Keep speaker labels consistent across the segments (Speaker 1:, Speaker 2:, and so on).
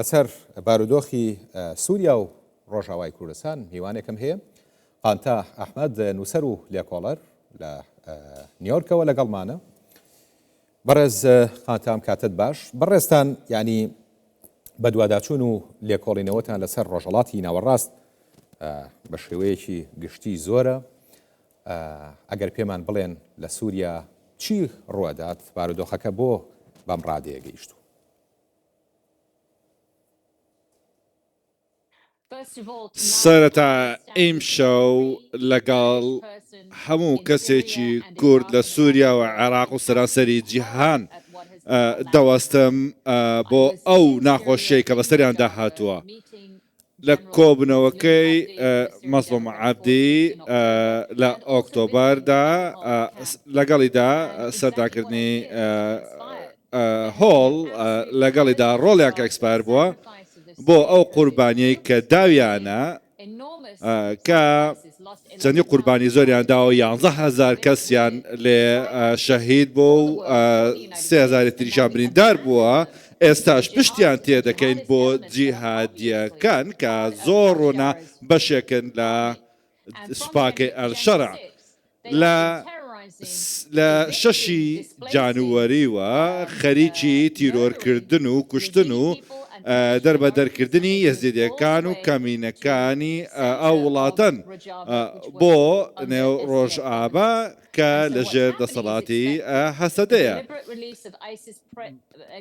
Speaker 1: لەسەر بارودۆخی سووریا و ڕۆژاوای کوردستان میوانێکم هەیە، قانتا ئەحمەد، نووسەر و لێکۆڵەر لە نیۆرکەوە لەگەڵمانە. بەڕێز قانتا ئەم کاتەت باش. بەڕێزتان یانی بەدواداچوون و لێکۆڵینەوەتان لەسەر ڕۆژەڵاتی ناوەڕاست بە شێوەیەکی گشتی زۆرە. ئەگەر پێمان بڵێن لە سووریا چی ڕووەدات، بارودۆخەکە بۆ بەم ڕادەیە گەیشتوو؟
Speaker 2: سەرەتا ئیمشەو لەگەڵ هەموو کەسێکی کورد لە سووریا و عێراق و سەرانسەری جیهان دەوەستم بۆ ئەو ناخۆشیەی کە بەسەریاندا هاتووە. لە کۆبوونەوەکەی مەزڵوم عەبدی لە ئۆکتۆبەردا لەگەڵیدا سەرداکردنی هۆڵ لەگەڵیدا ڕۆڵیان کە ئێکسپایر بووە بۆ ئەو قوربانیەی کە داویانە کە چەندی قوربانی زۆریان داوە یانزە هزار کەسیان لێ شەهید بۆ و سێزاری تریشان بریندار بووە ئێستاش پشتیان تێدەکەین بۆ جیهادییەکان کە زۆر ڕوونە بەشێکن لە سوپاکەی ئەلشەرع. لە لە شەشی جانوەریوە خەریکی تیرۆرکردن و کوشتن و دەربەدەرکردنی یەزیدەکان و کەمینەکانی ئەو وڵاتەن بۆ نێو ڕۆژئاڤا کە لەژێر دەسەڵاتی هەسەدەیە.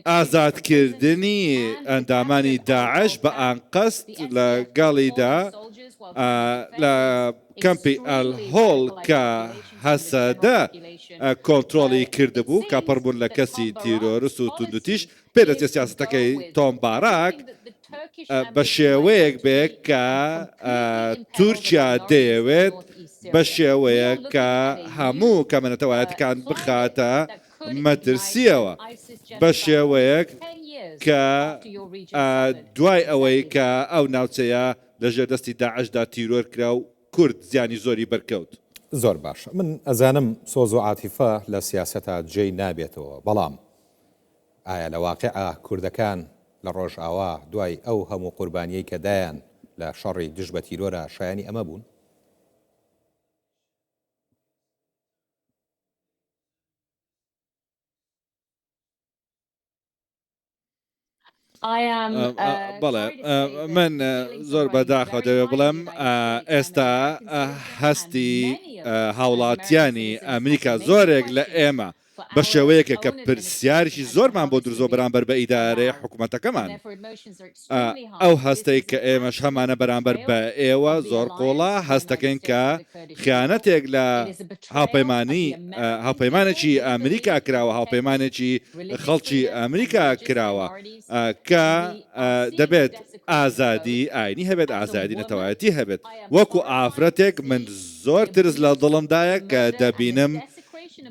Speaker 2: ئازادکردنی ئەندامانی داعش بە ئانقەست لە گەڵیدا لە کەمپی ئەلهۆڵ کە هەسەدە کۆنترۆڵی کردبوو کە پڕ بوون لە کەسی تیرۆرست و توندوتیژ، پێدەچێت سیاسەتەکەی تۆم باراک بە شێوەیەک بێت کە تورکیا دەیەوێت بە شێوەیەک کە هەموو کەمە نەتەوایەتیکان بخاتە مەترسییەوە، بە شێوەیەک کە دوای ئەوەی کە ئەو ناوچەیە لە ژێر دەستی داعشدا تیرۆر کرا و کورد زیانی زۆری بەرکەوت. زۆر باشە
Speaker 1: من ئەزانم سۆز و عاتیفە لە سیاسەتا جێی نابێتەوە بەڵام ئایا لە واقیعا کوردەکان لە ڕۆژئاوا دوای ئەو هەموو قوربانیەی کە دایان لە شەڕی دژ بە تیرۆرا شایەنی ئەمە بوون؟
Speaker 2: بەڵێ من زۆر بەداخە دەوێ بڵێم ئێستا هەستی هاوڵاتیانی ئەمریکا زۆرێک لە ئێمە بە شێوەیەکە کە پرسیارشی زۆرمان بۆ درزۆ بەرامبەر بە ئیدارەیە حکوومەتەکەمان ئەو هەستەی کە ئێمەش هەمانە بەرامبەر بە ئێوە زۆر قوڵە هەست دەکەین کە خیانەتێک لە هاوپەیمانی هاوپەیمانێکی ئەمریکا کراوە هاوپەیمانێکی خەڵکی ئەمریکا کراوە کە دەبێت ئازادی ئاینی هەبێت ئازادی نەتەوایەتی هەبێت وەکو ئافرەتێک من زۆر ترس لە دڵمدایە کە دەبینم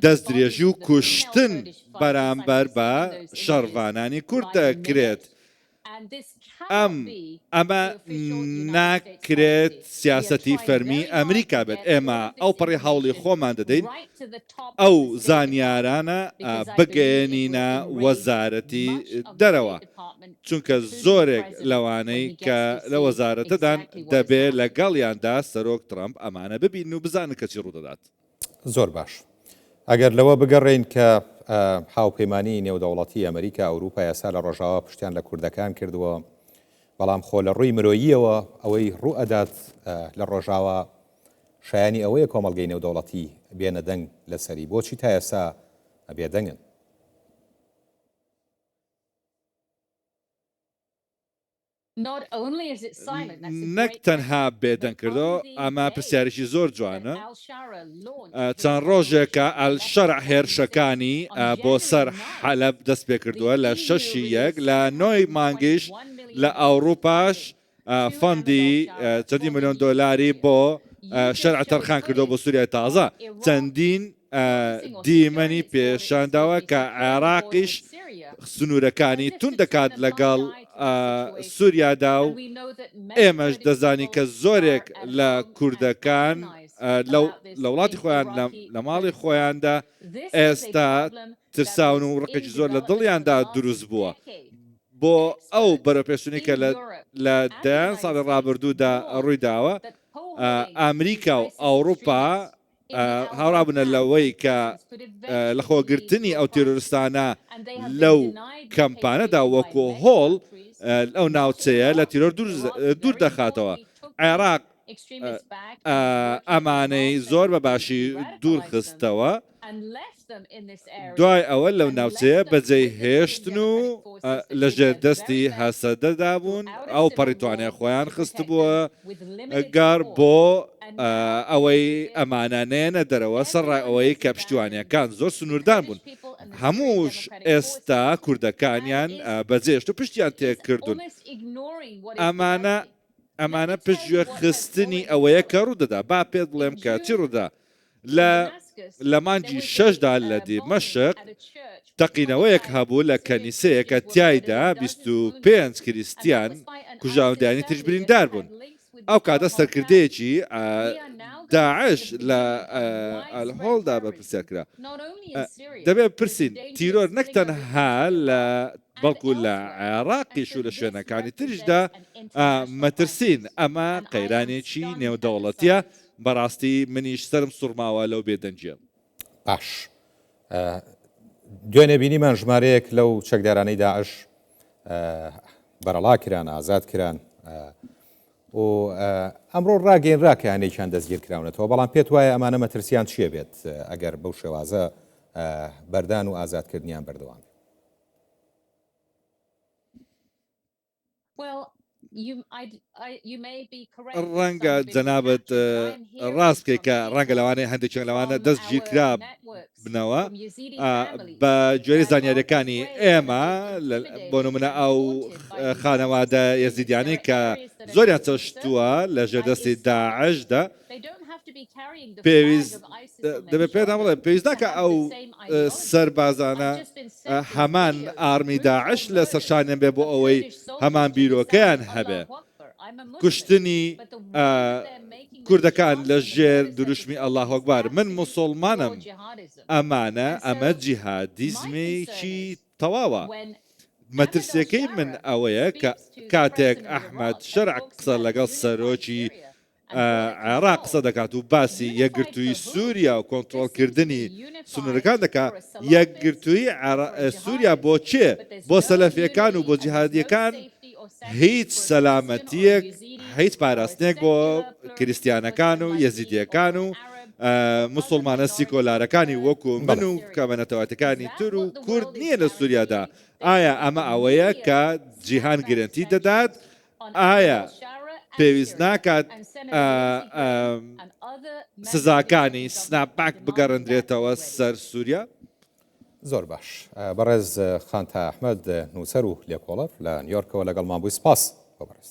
Speaker 2: دەست درێژی و کوشتن بەرامبەر بە شەڕڤانانی کورد دەکرێت. ئەم، ئەمە ناکرێت سیاسەتی فەرمی ئەمریکا بێت، ئێمە ئەوپەڕی هەوڵی خۆمان دەدەین ئەو زانیارانە بگەیەنینە وەزارەتی دەرەوە، چونکە زۆرێک لەوانەی کە لە وەزارەتەدان دەبێت لەگەڵیاندا سەرۆک ترەمپ ئەمانە ببینن و بزانن کە چی ڕوودەدات. زۆر باش.
Speaker 1: ئەگەر لەوە بگەڕێین کە هاوپەیمانی نێودەوڵەتی ئەمریکا ئەوروپا یاسا لە ڕۆژاوا پشتیان لە کوردەکان کردووە بەڵام خۆ لە ڕووی مرۆییەوە ئەوەی ڕوو ئەدات لە ڕۆژاوا شایانی ئەوەیە کۆمەلگەی نێودەوڵەتی بێنە دەنگ لەسەری بۆچی تا ئێستا بێدەنگن
Speaker 2: نەک تەنها بێدەنگ کردەوە ئەمە پرسیارێکی زۆر جوانە چەند ڕۆژێکە ئەلشەرع هێرشەکانی بۆ سەر حەلەب دەست پێ کردووە لە شەشی یەک لە نۆی مانگیش لە ئەوروپاش فەندی چەندی ملیۆن دۆلاری بۆ شەرع تەرخان کردەوە بۆ سووریای تازە چەندین دیمەنی پیشانداوە کە عێراقیش سنوورەکانی توند دەکات لەگەڵ سوریادا و ئێمەش دەزانی کە زۆرێک لە کوردەکان لە وڵاتی خۆیان لە ماڵی خۆیاندا ئێستا ترساون و ڕقێکی زۆر لە دڵیاندا دروست بووە بۆ ئەو بەرەپێشتنی کە لە دەیان ساڵی ڕابردوودا ڕوویداوە ئەمریکا و ئەوروپا هاوڕابنە لەوەی کە لەخۆگرتنی ئەو تیرۆرستانە لەو کەمپانەدا وەکۆ هۆڵ ئەو ناوچەیە لە تیرۆر دوور دەخاتەوە عێراق ئەمانەی زۆر بە باشی دوورخستەوە دوای ئەوە لەو ناوچەیە بەجێی هێشتن و لە ژێر دەستی هەسەدەدا بوون، ئەوپەڕی توانای خۆیان خستبووە گەڕ بۆ ئەوەی ئەمانە نێنە دەرەوە، سەرڕای ئەوەی کە پشتیوانییەکان زۆر سنووردان بوون. هەمووش ئێستا کوردەکانیان بەجێهێشت و پشتیان تێکردوون. ئەمانە ئەمانە پشتگوێ خستنی ئەوەیە کە ڕوودەدا. با پێت بڵێم کە چی ڕوودا. لە لە مانگی شەشدا لە دیمەشق تەقینەوەیەک هەبوو لە کەنیسەیەکە تایدا 25 کریسیان کوژاودانی تریش بریندار بوون ئەو کاتە سەرکردەیەکی داعش لە ئەلهۆڵدا بەپرسیار کرا دەبێ پرسین تیرۆر نەک تەنها لە بەڵکو لە عێراقیش و لە شوێنەکانی تریشدا مەترسین ئەمە قەیرانێکی نێودەوڵەتیە بەڕاستی منیش سەرم سوڕماوە لەو بێ دەنگیە. باش
Speaker 1: دوێنێ بینیمان ژمارەیەک لەو چەکدارانەی داعش بەرەڵا کران ئازاد کران و ئەمڕۆ ڕاگەینرا کە هەنێکیان دەستگیر کراونەتەوە بەڵام پێت وایە ئەمانە مەترسیان چیە بێت ئەگەر بەو شێوازە بەردان و ئازادکردنیان بەردەوام
Speaker 2: ڕەنگە جەنابت ڕاست بکەیت کە ڕەنگە لەوانەیە هەندێکیان لەوانە دەستگیرکرابنەوە بە گوێرەی زانیاریەکانی ئێمە بۆ نمونە ئەو خانەوادە یەزیدیانەی کە زۆریان چەشتووە لە ژێردەستی داعشدا پێویست دەبێت پێتان بڵێم پێویست ناکە ئەو سەربازانە هەمان ئارمی داعش لە سەرشانیان بێ بۆ ئەوەی هەمان بیرۆکەیان هەبێ کوشتنی کوردەکان لە ژێر دروشمی ئەله هۆکبار من مسلمانم ئەمانە ئەمە جیهادیزمێکی تەواوە مەترسیەکەی من ئەوەیە کە کاتێک ئەحمد شەرع قسە لەگەڵ سەرۆکی عێراق قسە دەکات و باسی یەکگرتووی سووریا و کۆنترۆڵکردنی سنوورەکان دەکا یەکگرتووی سووریا بۆ چێ بۆ سەلەفیەکان و بۆ جیهادیەکان هیچ سەلامەتیەک هیچ پاراستنێک بۆ کریسیانەکان و یەزیدیەکان و مسلمانە سیکۆلارەکانی وەکو من و کەمەنەتەواتەکانی تر و کورد نییە لە سووریادا ئایا ئەمە ئەوەیە کە جیهان گرنتی دەدات ئایا پێویست ناکات سزاکانی سناپ پاک بگەڕندرێتەوە سەر سووریا؟ زۆر
Speaker 1: باش بەڕێز خانتا ئەحمد نووسەر و لێکۆڵەر لە نیۆرکەوە لەگەڵ مابووی سپاس بەڕێز